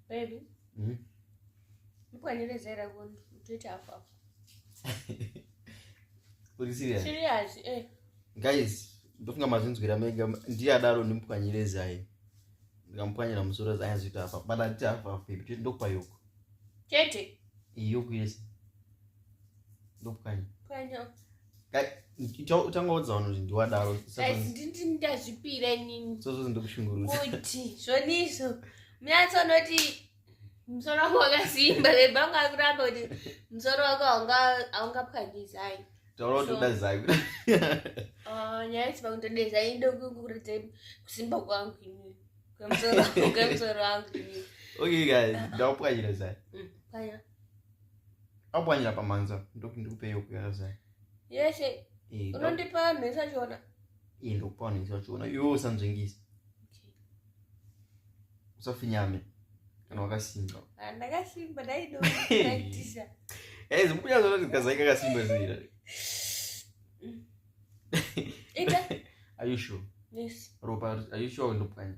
Baby. Mm. Mkwanire zera kundi mtoita hafu hafu. Uri serious? Serious, eh. Guys, ndofunga mazvinzwira mega ndiye adaro ndimupwanyire zai. Ndikamupwanyira musoro zai azvita hafu. Bada nditi hafu hafu baby, tete ndokupa yoko. Tete. Yoko yes. Ndopwanya. Pwanya. utangaudza vanhu kuti ndiwadaro ndazvipira inini sozozi ndikushungurudza kuti zvoniso munyatso unoti musoro wako wakasimba vebhangu ari kuramba kuti musoro wako haungapwanyizai taura kuti uda zai ah, nyaya isiva kutoda zai ndokukuratidza kusimba kwangu ini kwemusoro wangu ini okay guys ndakupwanyira zai mm, pwanya akupwanyira pamhanza ndokuti ndikupe yoku yarazai yeshe eh, unondipa mhesa chiona iye eh, ndokupa mhesa chiona iwewo usanzvengisa usafinyame kana wakasimba ah, ndakasimba daidoaitisa eh, zimbuya zona ndikazai kakasimba zira are you sure yes ropa are you sure ndopwanya